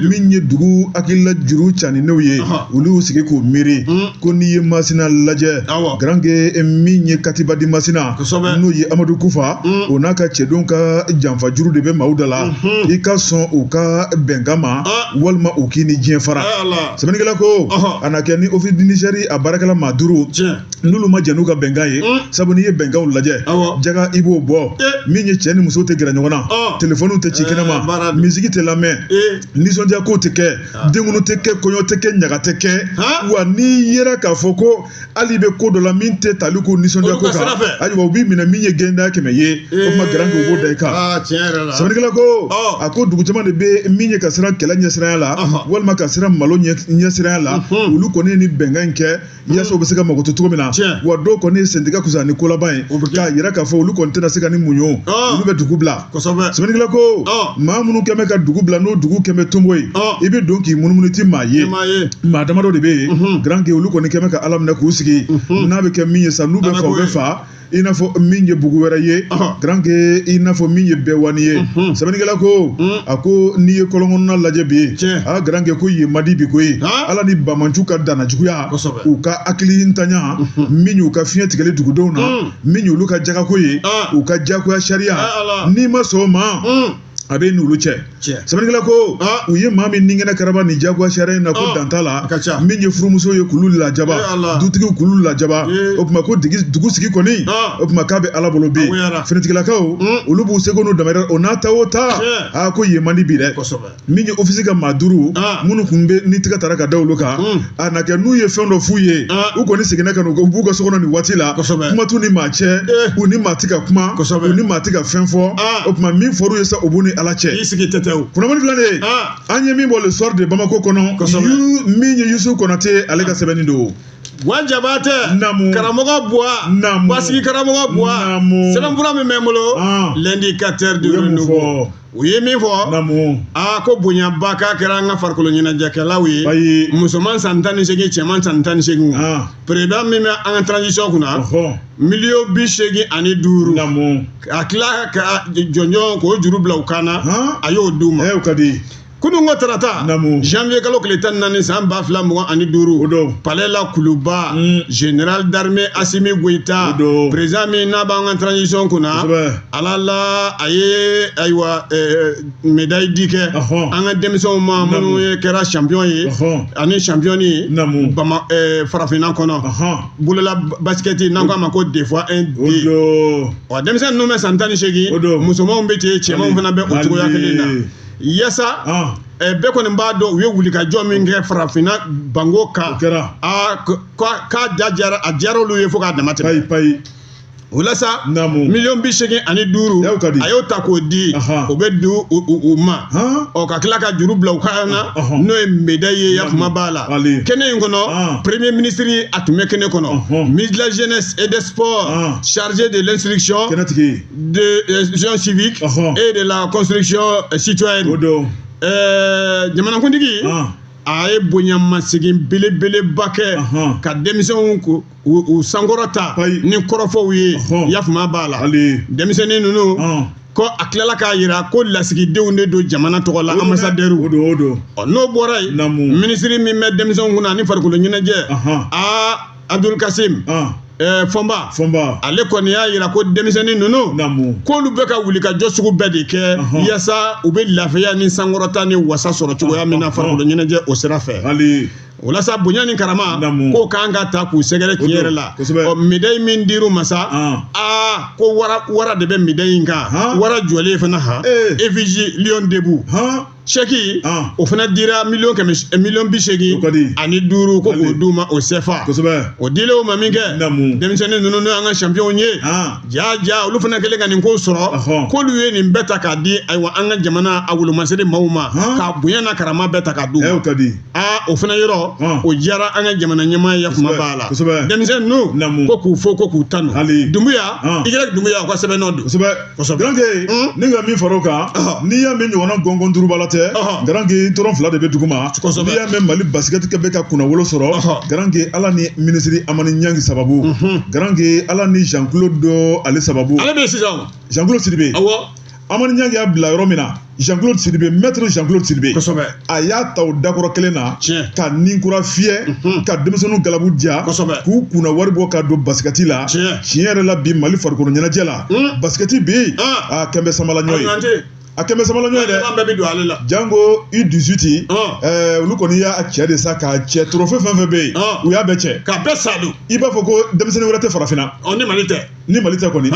min ye dugu hakilila juru caninenw ye olu y'u sigi k'u miiri hmm. ko n'i ye masina lajɛ garankɛ eh, min ye katiba di masina n'o ye amadu kufa hmm. o n'a ka cɛdenw ka janfa juru de bɛ maaw da la hmm. i ka sɔn u ka bɛnkan ma walima u k'i ni diɲɛ fara sɛbɛnnikɛla ko a na kɛ ni Office du Niger a baarakɛla maa duuru n'olu ma jɛn n'u ka bɛnkan ye sabu n'i ye bɛnkanw lajɛ jaga i b'o bɔ min ye cɛ ni muso tɛ gɛrɛ ɲɔgɔn na telefɔniw tɛ ci kɛnɛma misiki tɛ lamɛn nisɔndiya kow tɛ kɛ denkundi tɛ kɛ kɔɲɔ tɛ kɛ ɲaga tɛ kɛ wa n'i yera k'a fɔ ko hali i bɛ ko dɔ la min tɛ tali ko nisɔndiya ko kan ayiwa u b'i minɛ min ye gɛnda kɛmɛ ye o tuma garanke u b'o da i kan ah, sɛbɛnnikɛla ko a ko dugu caman de bɛ min ye ka siran kɛlɛ ɲɛsiranya la walima ka siran malo ɲɛsiranya la mhm. olu kɔni ye nin bɛnkan in kɛ mhm. yaasa u bɛ se ka mago to cogo min na wa dɔw kɔni ye sentigɛ kusa ni kolaban ye k'a yira k'a fɔ olu kɔni tɛna se ka nin muɲu ah. olu bɛ dugu bila kosɛbɛ sɛbɛnnikɛla ko maa minnu kɛn bɛ ka dugu bila n'o dugu kɛn bɛ tonbo ye i bɛ don k'i munumunu i ti maa ye maa damadɔ de bɛ yen garanke olu kɔni kɛn bɛ ka ala minɛ k'u sigi n'a bɛ kɛ min ye sa n'u bɛ fa u bɛ fa i n'a fɔ min ye bugu wɛrɛ ye garanke i n'a fɔ min ye bɛɛwani ye sɛbɛnnikɛla ko a ko n'i ye kɔlɔnkɔnɔna lajɛ bi aa garanke ko yen man di bi koyi ala ni banbaanciw ka danna juguya u ka hakili ntanya min y'u ka fiɲɛ tigɛli dugudenw na min y'olu ka jagako ye ah. u ka jagoya sariya ah, n'i ma sɔn o ma hmm. a b'i n'olu cɛ sɛbɛnnikɛla ko ah. u ye maa min ninkɛnɛ karaba nin jagoya sariya in na ko dan t'a la min ye furumuso ye k'olu lajaba eh, dutigiw k'olu lajaba eh. o tuma ko dugu sigi kɔni o tuma k'a bɛ ala bolo bi finitigilakaw hmm. olu b'u seko n'u damayira o n'a ta o ta aa ko yen man di bi dɛ min ye ofisi ka maa duuru ah. minnu tun bɛ ni tigɛ taara ka da olu kan hmm. a na kɛ n'u ye fɛn dɔ f'u ye ah. u kɔni seginna ka na u b'u ka so kɔnɔ nin waati la kuma t'u ni maa cɛ eh. u ni maa ti ka kuma u ni maa ti ka fɛn fɔ ah. o tuma min fɔr'u ye sa o b'u ni ala cɛ kunnafoni filanan an ye min bɔ le soir de bamako kɔnɔ min ye yusu konate ale ka sɛbɛnni don wa jabate namu karamɔgɔ buwa namu basigi karamɔgɔ buwa namu sɛbɛnfura min bɛ n bolo l'indicateur du u ye min fɔ aa ko bonyaba k'a kɛra an ka farikolo ɲɛnajɛkɛlaw ye musoman san tan ni seegin cɛman san tan ni seegin président min bɛ an ka transition kunna miliyɔn bi seegin ani duuru a tila ka jɔnjɔn k'o juru bila u kan na a y'o d'u ma kunun ko tarata Naamu. janvier kalo tile tan ni naani san ba fila mugan ani O duuru don. palais la kuluba Mm. général d'armée asimi goyita O don. président min n'a b'an ka transition kunna Kosɛbɛ. ala la a ye ayiwa eh, médaille di kɛ Ɔhɔn. an ka denmisɛnw ma Naamu. minnu ye kɛra champion ye Ɔhɔn. ani championne ye Naamu. bama eh, farafinna kɔnɔ Ɔhɔn. bolola basket n'an k'a ma ko des fois un o don wa denmisɛn ninnu bɛ san tan ni O seegin don. musomanw bɛ ten cɛmanw fana bɛ o cogoya kelen na Mali. yaasa bɛɛ kɔni b'a dɔn u ye wulikajɔ min kɛ farafinna bango kan k'a diyara a diyara olu ye fo k'a damatɛmɛ payi o la sa miliyɔn bi seegin ani duuru a y'o ta k'o di o bɛ di u ma ɔ ka tila ka juru bila u kan na n'o ye médaille ye ya kuma b'a la kɛnɛ in kɔnɔ premier ministre a tun bɛ kɛnɛ kɔnɔ ministre de la jeunesse et des sports chargé de l'instruction de l'instruction civique Ɔhɔn. et de la construction euh, citoyenne. o don Ɛɛ jamanakuntigi Ɔn. a ye bonyamasegin belebeleba kɛ Ɔhɔn. ka denmisɛnw ko- u u sankɔrɔta Ayi. ni kɔrɔfɔw ye Ɔhɔn. yafama b'a la hali denmisɛnnin ninnu Ɔn. ko a tilala k'a yira ko lasigidenw de don jamana tɔgɔ la o anbasadɛriw don o don Ɔ, n'o bɔra yen Namu. minisiri min bɛ denmisɛnw kunna ani farikolo ɲɛnajɛ Ɔhɔn. aa Abudulu Kasimu Fɔnba Fɔnba ale kɔni y'a yira ko denmisɛnnin ninnu k'olu bɛ ka wulikajɔ sugu bɛɛ de kɛ yasa u bɛ lafiya ni sankɔrɔta ni wasa sɔrɔ cogoya min na farikolo ɲɛnajɛ o sira fɛ o la sa bonya ni karama k'o ka kan ka taa k'u sɛgɛrɛ tiɲɛ yɛrɛ la ɔ medayi min dir'u ma sa aa ko wara de bɛ medayi in kan wara jɔlen fana han effigie lion debout sɛki o fana dira miliyɔn kɛmɛ miliyɔn bi seegin ani duuru ko k'o d'u ma o sɛfa o dilen u ma min kɛ denmisɛnnin ninnu n'o y'an ka sanpiyɔnw ye ja ja olu fana kɛlen ka nin ko sɔrɔ k'olu ye nin bɛɛ ta k'a di ayiwa an ka jamana a wolomasiri maaw ma k'a bonya n'a karama bɛɛ ta k'a d'u ma aa o fana yɔrɔ o diyara an ka jamana ɲɛmaa ye kuma b'a la denmisɛnnin ninnu ko k'u fo ko k'u tanu dumbuya igirɛki dumbuya o ka sɛbɛnnɔ don ni ka min fara o kan n'i y'a mɛn ɲɔgɔnna gɔngɔn durubala tɛ garanke tɔrɔn fila de bɛ duguma n'i y'a mɛn mali basikɛtikɛ bɛ ka kunnawolo sɔrɔ garanke ala ni minisiri amani ɲangi sababu garanke ala ni jean claude dɔ ale sababu ale bɛ sisan jean claude sidibe awɔ amani ɲangi y'a bila yɔrɔ min na Jean-Claude Sidibe maître Jean-Claude Sidibe kosɛbɛ a y'a ta o dakɔrɔ kelen na tiɲɛ ka nin kura fiyɛ mhm. ka denmisɛnninw galabu diya kosɛbɛ k'u kunna wari bɔ ka don basikɛti la tiɲɛ tiɲɛ yɛrɛ la bi Mali farikolo ɲɛnajɛ la hmm. basikɛti bɛ yen ah. a kɛlen bɛ samala ɲɔ ye a kɛlen bɛ samala ɲɔ ye dɛ bɛɛ bɛ don ale la janko U dix-huit ah. olu kɔni y'a cɛ de sa k'a cɛ torofe fɛn fɛn bɛ yen ah. u y'a bɛɛ cɛ k'a bɛɛ sa don i b'a fɔ ko denmisɛnnin wɛrɛ tɛ farafinna ɔ ni Mali tɛ ni mali tɛ kɔni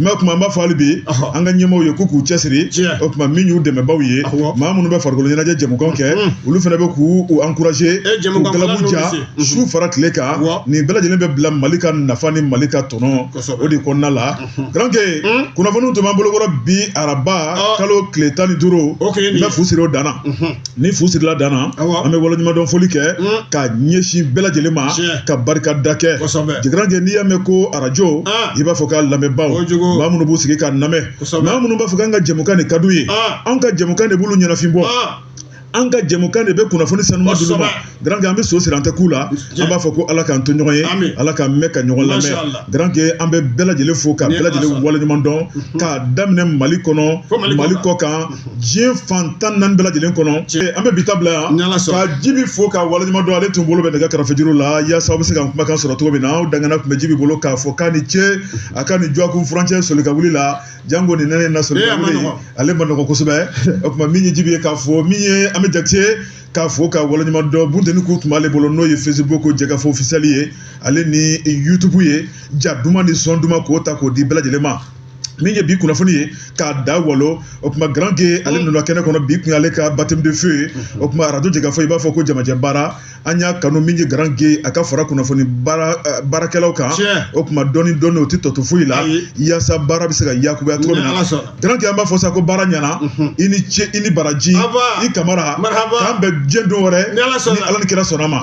mɛ o tuma an b'a fɔ hali bi an ka ɲɛmaaw ye k'u k'u cɛsiri o tuma min y'u dɛmɛbaaw ye maa minnu bɛ farikolo ɲɛnajɛ jɛmukan kɛ olu fana bɛ k'u u encourager k'u galabu diya su fara tile kan nin bɛɛ lajɛlen bɛ bila mali ka nafa ni mali ka tɔnɔ o de kɔnɔna la garanke kunnafoniw tun b'an bolokɔrɔ bi araba kalo tile tan ni duuru n bɛ fu siri o dan na ni fu sirila dan na an bɛ waleɲumandɔn foli kɛ ka ɲɛsin bɛɛ lajɛlen ma ka barikada kɛ garanke n'i y'a mɛn ko arajo i b'a fɔ k'a lamɛnbaaw maa minnu b'u sigi k'a lamɛn maa minnu b'a fɔ k'an ka jɛmukan de ka d'u ye anw ka jɛmukan de b'olu ɲɛnafin bɔ an ka jɛmukan de bɛ kunnafoni sanuma d'olu ma. garanke an bɛ so siri an tɛ ku la an b'a fɔ ko ala k'an to ɲɔgɔn ye ala k'an mɛn ka ɲɔgɔn lamɛn garanke an bɛ bɛɛ lajɛlen fo ka bɛɛ lajɛlen waleɲuman dɔn mhm. k'a daminɛ mali kɔnɔ mali kɔkan mhm. diɲɛ fan tan naani bɛɛ lajɛlen kɔnɔ an bɛ bi ta bila yan ka jibi fo ka waleɲuman dɔn ale tun bolo bɛ nɛgɛ kɛrɛfɛ juru la yaasa aw bɛ se ka kumakan sɔrɔ cogo min na aw dangana tun bɛ jibi bolo k'a fɔ k'a ni ce mhm. a ka ni jɔkun furancɛ soli ka wuli la janko nin nɛnɛ na soli ka wuli ale ma nɔgɔ kosɛbɛ o tuma min ye jibi ye k'a fo min ye an bɛ jakite k'a fo ka waleɲuman dɔn bunteni ku tun b'ale bolo n'o ye facebook jɛkafɔ officiel ye ale ni youtube ye ja duman ni sɔn duman k'o ta k'o di bɛɛ lajɛlen ma min ye bi kunnafoni ye k'a da walo o tuma garanke ale nana kɛnɛ kɔnɔ bi kun y'ale ka baptême de feu ye o tuma arajo jɛkafɔ i b'a fɔ ko jamajɛ baara an y'a kanu min ye garanke a ka fara kunnafoni baara eh, baarakɛlaw kan Tiɲɛ. o tuma dɔɔni dɔɔni o tɛ tɔ to foyi la Ayi. yaasa baara bɛ se ka yakubaya cogo min Ni Ala na sɔnna. garanke an b'a fɔ sa ko baara ɲɛna i ni ce i ni baraji i kamara k'an bɛn diɲɛ don wɛrɛ ni ala ni kira sɔnna a ma